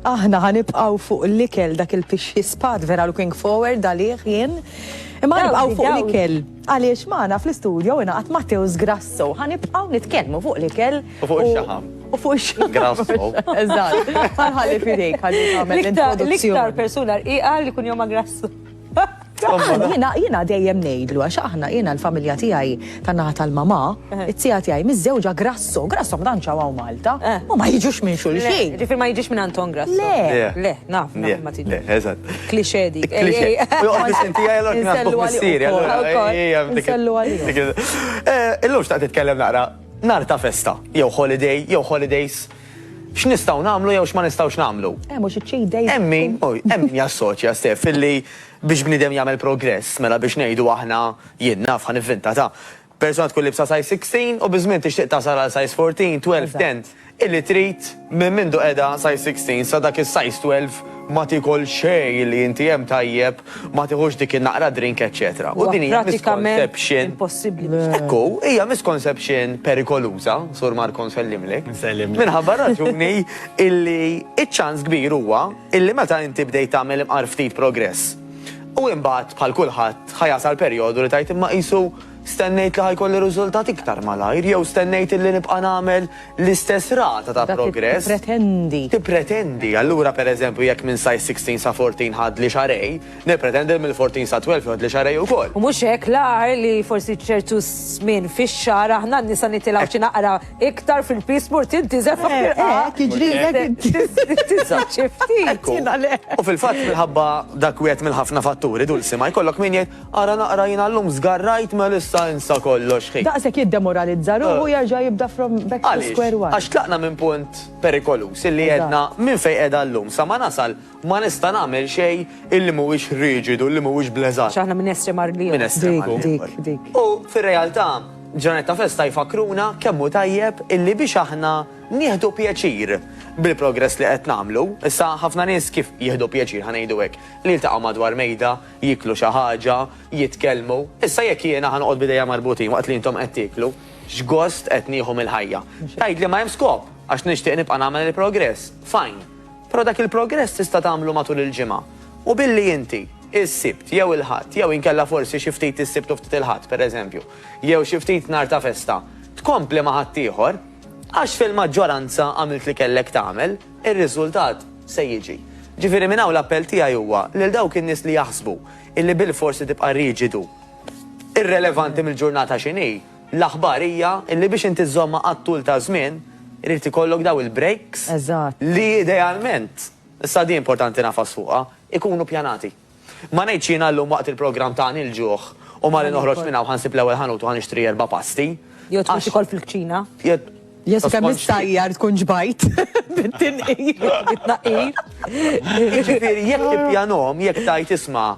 aħna ħanibqaw fuq l-ikel dak il-pixxi spat vera looking forward għalih jien. Imma ħanibqaw fuq l-ikel. Għaliex maħna fl-istudio jina għat Matteus Grasso. Ħanibqaw nitkellmu fuq l-ikel. U fuq il-xaħam. U fuq il-xaħam. Grasso. Eżatt. Ħalli fidejk, ħalli l-introduzzjoni. L-iktar persuna rqiqa li kun joma Grasso. Jina, jina dejjem nejdlu, għax aħna jina l-familja tijaj tan-naħa tal-mama, eh. it-tija tijaj mizzewġa grasso, grasso mdan ċawaw Malta, eh. u ma jiġux minn xulxin. Ġifir ma jiġux minn Anton Grasso. Le, le, naf, naf, ma tiġux. Eżat. Klixe dik. Klixe. Nsellu għalija. Illum xtaqt titkellem naqra nar ta' festa, jew holiday, jew holidays. X'nistgħu nagħmlu jew x'ma nistgħux nagħmlu? Hemm u xi cheat days. Hemm min, hemm min jassoċja, Steph, illi biex bniedem jagħmel progress, mela biex ngħidu aħna, jien naf, ħa nivvinta ta', persuna tkun libsa size 16 u biż-żmien tixtieq tasal għal size 14, 12, 10, illi trid minn mindu qiegħda size 16 sa dak is-size 12 ma tiekol xejn illi inti hemm tajjeb Ma tiħux dik in-naqra drink eċċetera. U din hija misconception. Hekk hu, hija misconception perikoluża, Sur Marco nsellimlek. Minħabba raġuni illi iċ-ċans kbir huwa illi meta inti bdejt tagħmel imqar ftit progress. U imbagħad bħal kulħadd ħa jasal perjodu li tgħid imma qisu Stennejt li ħa jkolli riżultat iktar malajr jew stennejt illi nibqa' nagħmel l-istess rata ta' progress? Dak tippretendi. Tippretendi. Allura, per eżempju, jekk minn size 16 sa 14 ħadli xahrejn, nippretendi li mill-14 sa 12 jgħoddli xahrejn ukoll. U mhux hekk l-agħar li forsi ċertu żmien fix-xahar aħna n-nisa nitilgħu xi naqra iktar fil-piż mur tintiżel fuq l-irqaq. Eh, eh, tiġrilek int. Tiżżid xi ftit. U fil-fatt minħabba dak wieħed mill-ħafna fatturi, Dulsi, ma jkollok min jgħid, Ara naqra jiena llum żgarrajt Melissa insa kollox hi. Daqshekk jiddemoralizza ruħu jerġa' jibda from back to square one. Għaliex? Għax tlaqna minn punt perikoluż illi għedna minn fejn qiegħda llum sa ma nasal ma nista' nagħmel xejn illi mhuwiex riġidu, illi mhuwiex bl-eżatt. X'aħna minn estrem għar l-ieħor. Minn estrem għar l-ieħor. U fir-realtà ġranet ta' festa jfakkruna kemm hu tajjeb illi biex aħna nieħdu pjaċir bil-progress li qed nagħmlu. Issa ħafna nies kif jieħdu pjaċir, ħa ngħidu hekk, li jiltaqgħu madwar mejda, jieklu xi ħaġa, jitkellmu. Issa jekk jiena ħa noqgħod b'idejja marbutin waqt li intom qed tieklu, x'gost qed nieħu mill-ħajja? Tgħidli ma hemm skop, għax nixtieq nibqa' nagħmel il-progress. Fine. Però dak il-progress tista' tagħmlu matul il-ġimgħa. U billi inti, is-Sibt jew il-Ħadd, jew inkella forsi xi ftit is-Sibt u ftit il-Ħadd, pereżempju, jew xi ftit nhar ta' festa, tkompli ma' ħaddieħor, għax fil-maġġoranza għamilt li kellek tagħmel. ir-riżultat se jiġi. Ġifieri minn hawn l-appell tiegħi huwa lil dawk in-nies li jaħsbu illi bilfors se tibqa' riġidu, irrelevanti mill-ġurnata x'inhi, l-aħbar hija illi biex inti żżommha għat-tul ta' żmien irid ikollok dawn il-breaks li idealment, issa din importanti nagħfas fuqha, ikunu pjanati. Ma ngħidx jiena llum waqt il-programm ta' Nilġugħ u malli noħroġ minn hawn ħa nsib l-ewwel ħanut u ħa nixtri erba' pasti. Jew tmur tikol fil-kċina. Jesu kemm issajjar tkun ġbajt bit-tinqir. Bit-tnaqqir. Jiġifieri jekk tippjanhom, jekk tgħid isma'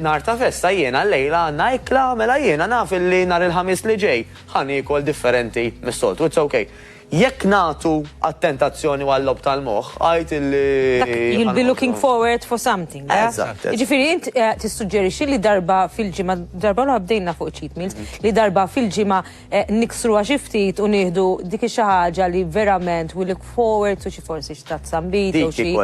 nhar ta' festa jiena llejla għandna ikla mela jiena naf illi nhar il-Ħamis li ġej ħa niekol differenti mis-soltu. It's ok. Jekk nagħtu għat-tentazzjoni u għal-logħob tal-moħħ, għid illi. You'll be looking forward for something. Eżatt. Jiġifieri int eh, tissuġġerixxi li darba fil-ġimgħa, darba l bdejna fuq cheat meals, mhm. li darba fil-ġimgħa eh, niksru xi ftit u nieħdu dik xi ħaġa li verament we look forward to xi forsi xi tazzambit u xi.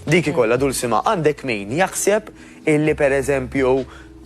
Dik ikolla dul sima għandek min jaħseb illi pereżempju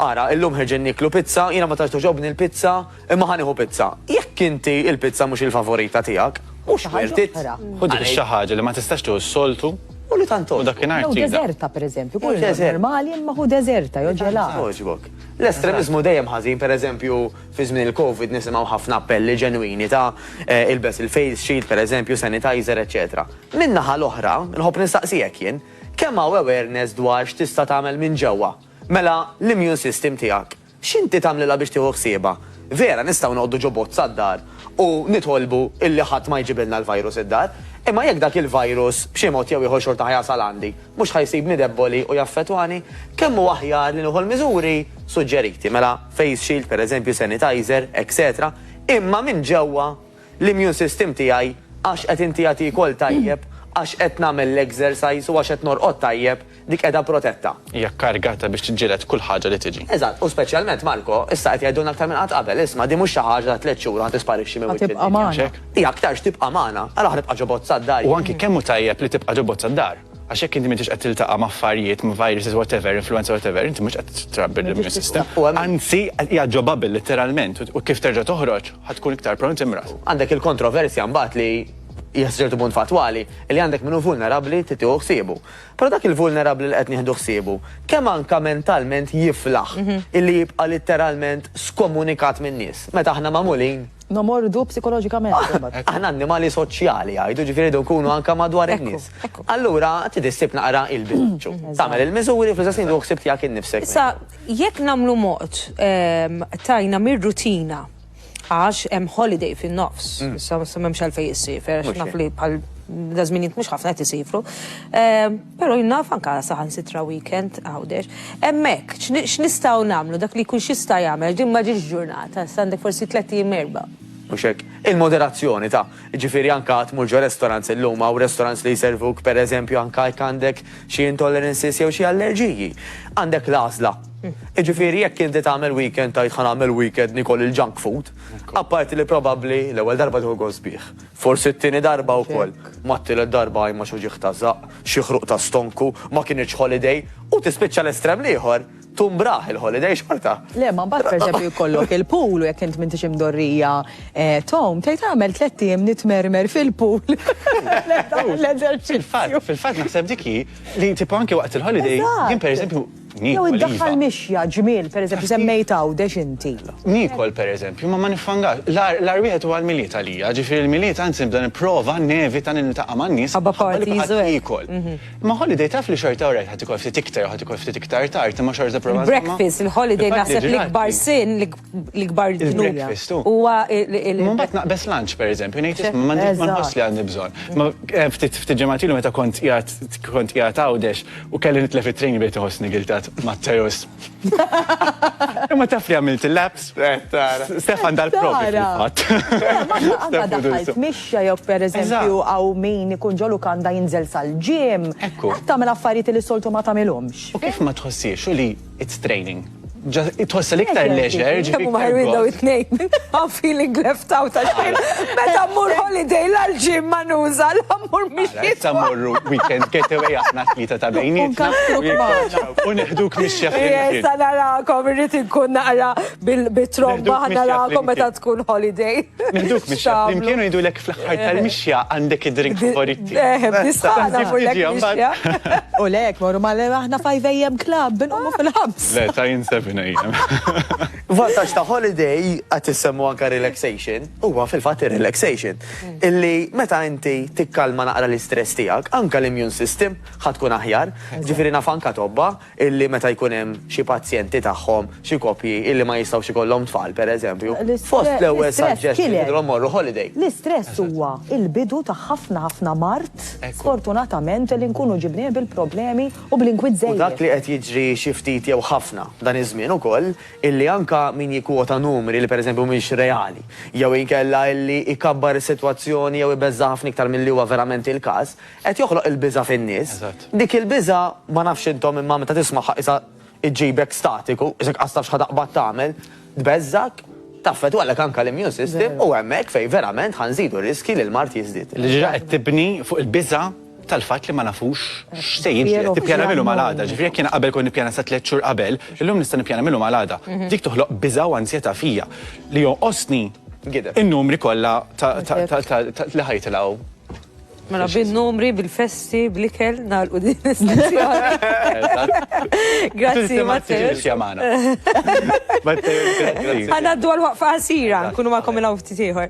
Ara, illum ħeġen niklu pizza, jina ma taċ toġobni l-pizza, Imma ħa nieħu pizza. Jekk inti il-pizza mhux il-favorita tiegħek, mhux wert it. Hu dik xi ħaġa li ma tistax tieħu s-soltu u li tant togħġbok. U dakinhar tridha. Jew deżerta pereżempju, kull deżert normali imma hu deżerta jew ġelat. Togħġbok. L-estremiżmu dejjem ħażin, pereżempju fi żmien il-Covid nisimgħu ħafna appelli ġenwini ta' ilbes il-face shield pereżempju, sanitizer, eċċetera. Min-naħa l-oħra, nħobb nistaqsijek jien, kemm hawn awareness dwar x'tista' tagħmel minn ġewwa? Mela l-immune system tiegħek. X'inti tagħmlilha biex tieħu ħsiebha? Vera, nistgħu noqogħdu ġo bozza d-dar u nitolbu illi ħadd ma jġibilna l-virus id-dar, imma jekk dak il-virus b'xi mod jew ieħor xorta ħa jasal għandi, mhux ħa jsibni debboli u jaffettwani? Kemm hu aħjar li nieħu l-miżuri suġġeriti, mela face shield, pereżempju, sanitizer, etc, imma minn ġewwa? l-immune system tiegħi għax qed inti qed iekol tajjeb, għax qed nagħmel l-exercise u għax qed norqod tajjeb, dik qiegħda protetta. Hija kkarigata biex tiġġieled kull ħaġa li tiġi. Eżatt, u speċjalment, Marco, issa qed jgħidulna aktar minn qatt qabel, isma' din mhux xi ħaġa ta' tliet xhur u ħa tisparixxi minn wiċċ id-dinja. Hija aktarx tibqa' magħna. Allura ħa tibqa' ġo bozza d-dar. U anki kemm hu tajjeb li tibqa' ġo bozza d-dar. Għax jekk inti m'intix qed tiltaqa' ma' affarijiet, ma' viruses whatever, influenza whatever, inti mhux qed trabbi l-immune system. Anzi, hija ġo bubble litteralment u kif terġa' toħroġ ħa tkun iktar prone timrad. Għandek il-kontroversja mbagħad li hija sa ċertu punt fattwali li għandek min hu vulnerabbli trid tieħu ħsiebu. Però dak il-vulnerabbli li qed nieħdu ħsiebu, kemm anke mentalment jiflaħ illi jibqa' litteralment skomunikat min-nies meta aħna magħmulin Nomordu psikoloġikament. Aħna annimali soċjali jgħidu ġifieri jdu nkunu anke madwar in-nies. Allura trid issib naqra il-bilanċu. Tagħmel il-miżuri fl-istess ħin ħsieb tiegħek innifsek. Issa jekk nagħmlu mod tajna mir-rutina għax hemm holiday fin-nofs, issa m'hemmx għalfejn issiefer għax naf li bħal daż-żminijiet mhux ħafna qed isiefru. Però jien naf anke saħansitra weekend Għawdex. Hemmhekk, x'nistgħu nagħmlu? Dak li jkun x'jista' jagħmel għax din ma ġietx ġurnata, issa għandek forsi tliet ijiem erbgħa. Mhux hekk? Il-moderazzjoni ta', jiġifieri anke għad tmur ġo restaurants illum, hawn restaurants li jservuk pereżempju anke jekk għandek xi intolerances jew xi allerġiji. Għandek l-għażla. Jiġifieri jekk inti tagħmel weekend tgħid ħa nagħmel weekend nikol il-junk food, apparti li probabbli l-ewwel darba tieħu gost bih. Forsi t-tieni darba wkoll. Mat-tielet darba għajn ma xi ġieħ ta' żaqq, xi ħruq ta' stonku, ma kinitx holiday, u tispiċċa l-estrem l-ieħor, tumbraħ il-holiday xorta. Le, ma mbagħad pereżempju jkollok il-pool u jekk int m'intix imdorrija tgħum, tgħid għamel tlett ijiem nitmermer fil-pool. L-eżerċizzju. Fil-fatt, fil-fatt naħseb dik hi li tipo anke waqt il-holiday, jien pereżempju, Jew iddaħħal mixja, ġmiel, pereżempju, semmejt Għawdex inti. Niekol, pereżempju, imma ma niffangax. L-agħar wieħed huwa l-Milied għalija, ġifieri l-Milied anzi nibda nipprova nevita li niltaqa' man-nies minħabba li kulħadd jiekol. Imma holiday taf li xorta orajt ħa tikol ftit iktar u ħa tikol ftit iktar tard imma xorta tipprova żommha. Il-breakfast, il-holiday naħseb l-ikbar sin, l-ikbar ġnuna. Huwa il-bat naqbes lunch, per eżempju, ngħid isma' ma nħoss li għandi bżonn. Ma eh, ftit ġematilu meta kont qiegħed kont qiegħed għawdex u kelli nitlef it-trejn bejt iħossni giltat Matteus. Imma taf li għamilt il-laps. Eh, Stefan dal-probi fil-fatt. Għadda mixja jew per eżempju għaw min ikun ġolu kanda jinżel sal-ġim. Ekku. Għattamil affarijiet li soltu ma tamilomx. U kif ma tħossiex u li It's training. Tħossa l-iktar leisure, ġifieri. Kemm ħarwin daw it-tnejn. I'm feeling left out għaxin. Meta mmur holiday l-ġim ma nuża, l-ammur mhix. Meta mmorru weekend getaway aħna tlieta ta' bejnietna. U neħduk mix-xeħ. Jesa narakom, irrid inkun naqra Bil-tromba ħana rakom meta tkun holiday. Niduk mixja flimkien u jidulek fl-aħħar tal-mixja għandek id-drink favoriti. Eh, bisħana fullek mixja. U lek, morru ma aħna 5 AM club, binqomu fil-ħabs. Le, ta' jien 7 AM. Vantaġġ ta' holiday għat issemmu anka relaxation, huwa fil-fatt relaxation Illi meta inti tikkalma naqra l-istress tiegħek, anka l-immune system ħatkun aħjar, ġifieri naf anka tobba illi meta jkun hemm xi pazjenti tagħhom, xi koppji illi ma jistgħux ikollhom tfal, pereżempju, fost l-ewwel suggestion jidhirhom morru holiday. L-istress huwa l-bidu ta' ħafna ħafna mard, sfortunatament, li nkunu ġibnieh bil-problemi u bl-inkwiet żejjed. U dak li qed jiġri xi ftit jew ħafna f'dan iż-żmien ukoll, illi anke min jikkwota numri li pereżempju mhumiex reali, jew inkella illi jkabbar is-sitwazzjoni jew ibeżżagħha ħafna iktar milli huwa verament il-każ, Qed joħloq il-biża' fin-nies. Dik il-biża' ma nafx intom imma meta tismagħha qisha ġġibek statiku, qisek qas taf x'ħa taqbad tagħmel, tbeżżgħek, taffetwalek anke l-immune system u hemmhekk fejn verament ħa nżidu r-riskji li l-mard jiżdied. Li diġà qed tibni fuq il-biża' tal-fatt li ma nafux x'se jiġri, qed tippjana mill-lum għal għada. Ġifieri jekk jiena qabel kont nippjana sa tliet xhur qabel, illum nista' nippjana mill-lum għal għada. Dik toħloq biża' u ansjetà fija li jonqosni in-numri kollha ta' li ħa jitilgħu. Mela bin-numri, bil-festi, bl-ikel, nagħlqu din l-istazzjoni. Grazzi, Matteo. Ħanaddu għal waqfa ħasira, nkunu ma' komila ufti tiħor.